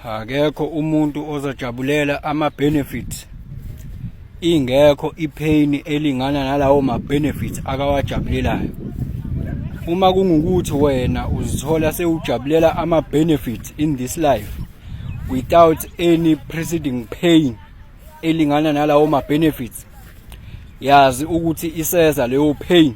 akekho umuntu ozojabulela ama-benefits ingekho ipheyini elingana nalawo ma-benefits akawajabulelayo uma kungukuthi wena uzithola sewujabulela ama-benefits in this life without any preceding pain elingana nalawo ma-benefits yazi ukuthi iseza leyo pain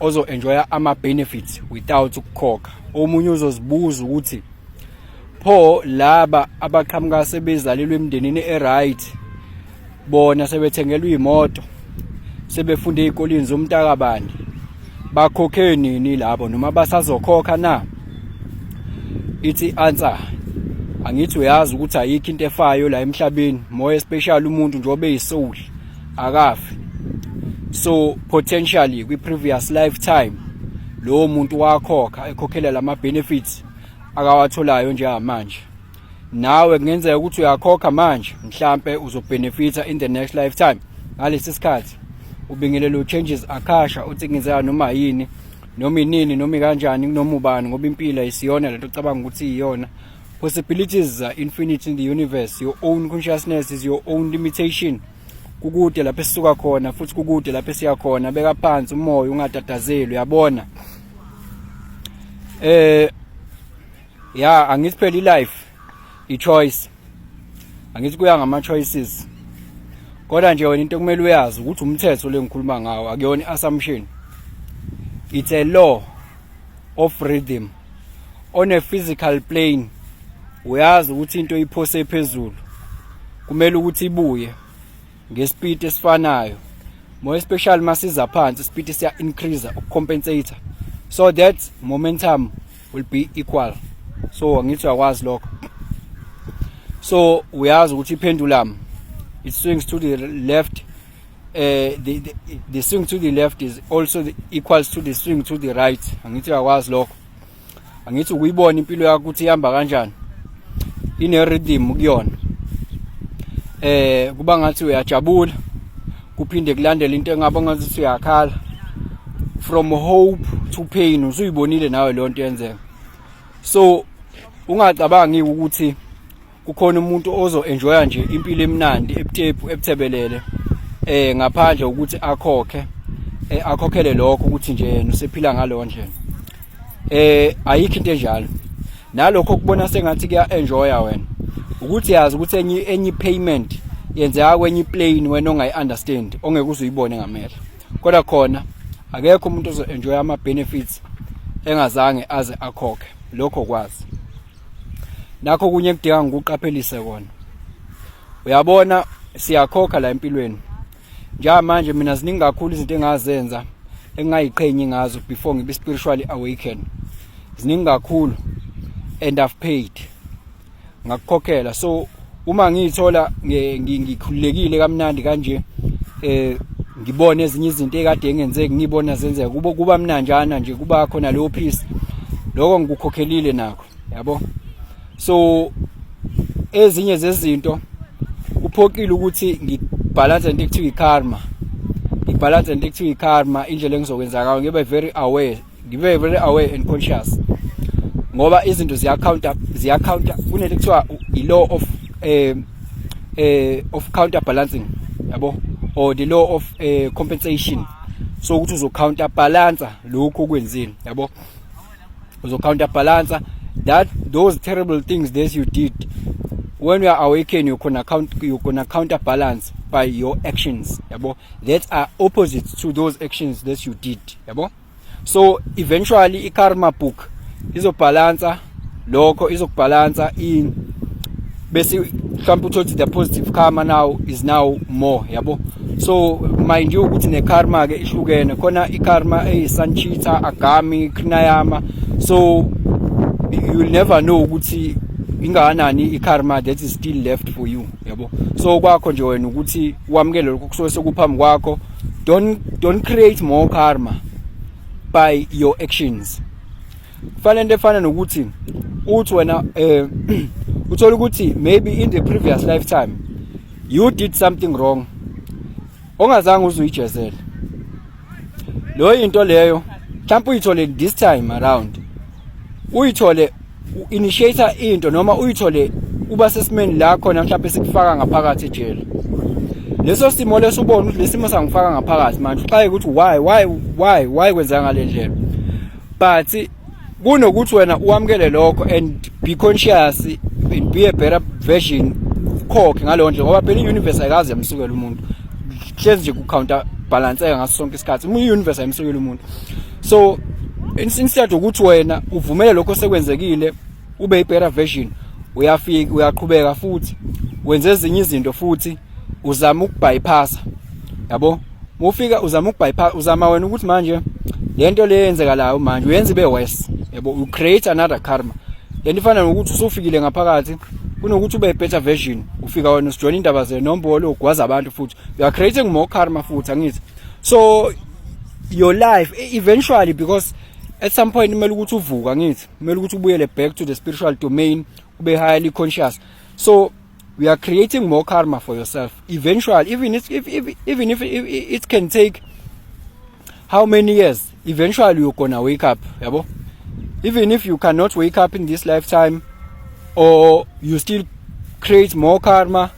ozo enjoya ama benefits without ukukhokha omunye uzozibuza ukuthi pho laba abaqhamuka sebezalelwe emndenini eright bona sebethengelwa imoto sebefunde ezikoleni zomntakabani bakhokhe nini labo noma basazokhokha na ithi answer angithi uyazi ukuthi ayikho into efayo la emhlabeni more especially umuntu njengoba eyisoul akafi so potentially kwi previous lifetime lowo muntu wakhokha ekhokhela lama benefits akawatholayo njengamanje nawe kungenzeka ukuthi uyakhokha manje mhlambe uzobenefita in the next lifetime ngalesi sikhathi ubingelela uchanges akhasha uthi ngenzeka noma yini noma inini noma kanjani noma ubani ngoba impilo isiyona lento cabanga ukuthi iyona Possibilities are infinite in the universe. Your own consciousness is your own limitation. Kukude lapho esisuka khona futhi kukude lapho esiya khona. Beka phansi umoya ungatatazeli uyabona. Eh ya angithi phela ilife i choice. Angithi kuya ngama choices. Kodwa nje wena into kumele uyazi ukuthi umthetho lengikhuluma ngawo akuyona assumption. It's a law of rhythm. on a physical plane uyazi ukuthi into iphose phezulu kumele ukuthi ibuye ngespeed esifanayo more especially masiza phansi speed siya increase ukucompensate so that momentum will be equal so ngithi uyakwazi lokho so uyazi ukuthi iphendulum it swings to the left eh the, the the swing to the left is also the, equals to the swing to the right angithi uyakwazi lokho angithi ukuyibona impilo yakho ukuthi ihamba kanjani ine rhythm kuyona eh kuba ngathi uyajabula kuphinde kulandela into engaba ngathi uyakhala from hope to pain usuyibonile nawe lonto yenzeka so ungacabangi ukuthi kukhona umuntu ozo enjoya nje impilo emnandi ebutepu ebuthebelele eh ngaphandle ukuthi akhokhe eh akhokhele lokho ukuthi nje yena usephila ngalo ndlela eh ayikho into enjalo nalokho kubona sengathi kuya enjoya wena ukuthi yazi ukuthi enye enye payment yenzeka kwenye plane wena ongayi understand ongeke uzuyibone ngamehlo kodwa khona akekho umuntu ozo enjoy ama benefits engazange aze akhokhe lokho kwazi nakho kunye kudinga ngikuqaphelise kona uyabona siyakhokha la empilweni njengamanje mina ziningi kakhulu izinto engazenza engingayiqhenyi ngazo before ngibe spiritually awaken ziningi kakhulu and I've paid ngakukhokhela so uma ngiyithola ngikhululekile kamnandi kanje eh ngibone ezinye izinto ekade engenzeki ngibona zenzeka kubo kuba mnanjana nje kuba khona leyo peace lokho ngikukhokhelile nakho yabo so ezinye zezinto kuphoqile ukuthi ngibhalanse into ekuthiwa ikarma ngibhalanse into ekuthiwa ikarma indlela engizokwenza ngayo ngibe very aware ngibe very aware and conscious ngoba izinto ziya counter ziya counter kunento kuthiwa i law of eh eh of counter balancing yabo or the law of eh, compensation so ukuthi uzo counter balance lokho okwenzile yabo uzo counter balance that those terrible things that you did when you are awakened you can account you can counterbalance by your actions yabo that are opposite to those actions that you did yabo so eventually i karma book izobhalansa lokho izokubhalansa in bese mhlawumbe uthothe the positive karma now is now more yabo so mind you ukuthi ne karma ke ihlukene khona i karma eyi sanchita agami krinayama so you will never know ukuthi ingakanani i-karma that is still left for you yabo so kwakho nje wena ukuthi wamukele lokho kusuke sekuphambi kwakho don't don't create more karma by your actions kufana into efana nokuthi uthi wena eh uthola ukuthi maybe in the previous lifetime you did something wrong ongazange uzuyijezele lo into leyo mhlawumbe uyithole this time around uyithole initiator into noma uyithole uba sesimeni la khona mhlawumbe sikufaka ngaphakathi ejele leso simo leso ubona ukuthi lesimo sangifaka ngaphakathi manje uxaye ukuthi why why why why kwenzeka ngalendlela but kunokuthi wena uwamukele lokho and be conscious and be a better version khokhe ngaleyo ndlela ngoba phela i-universe ayikazi yamsukela umuntu hlezi nje ku-counter balanseka ngaso sonke isikhathi uma i-universe ayimsukela umuntu so instead ukuthi wena uvumele lokho sekwenzekile ube ibetter version uyafika uyaqhubeka futhi wenze ezinye izinto futhi uzama ukubypassa yabo mufika uzama ukubypass uzama wena ukuthi manje lento le yenzekalayo manje uyenza ibe worse yabo you create another karma lento ifana nokuthi usufikile ngaphakathi kunokuthi ube better version ufika wena usijoyina indaba zenombolo ugwaza abantu futhi you are creating more karma futhi angithi so your life e, eventually because at some point kumele ukuthi uvuka ngithi kumele ukuthi ubuyele back to the spiritual domain ube highly conscious so we are creating more karma for yourself eventually even if, if, if even if it, it can take how many years eventually you're gonna wake up yabo even if you cannot wake up in this lifetime or you still create more karma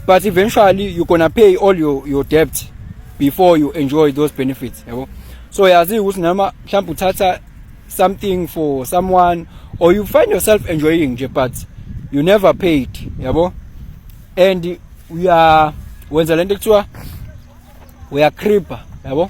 but eventually you're gonna pay all your, your debt before you enjoy those benefits yabo so yazi ukuthi nama mhlawumbe uthatha something for someone or you find yourself enjoying nje but you never paid yabo and uya wenza lento ekuthiwa uya creeper yabo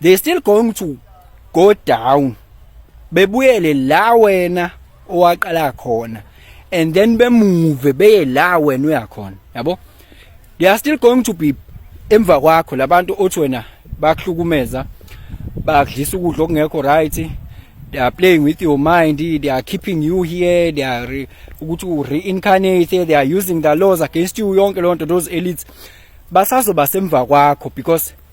they still going to go down bebuyele la wena owaqala khona and then bemuve beye la wena uyakhona yabo they are still going to be emva kwakho labantu othi wena bakuhlukumeza bakudlisa ukudla okungekho right they are playing with your mind they are keeping you here they are ukuthi u reincarnate they are using the laws against you yonke lonto those elites basazoba semva kwakho because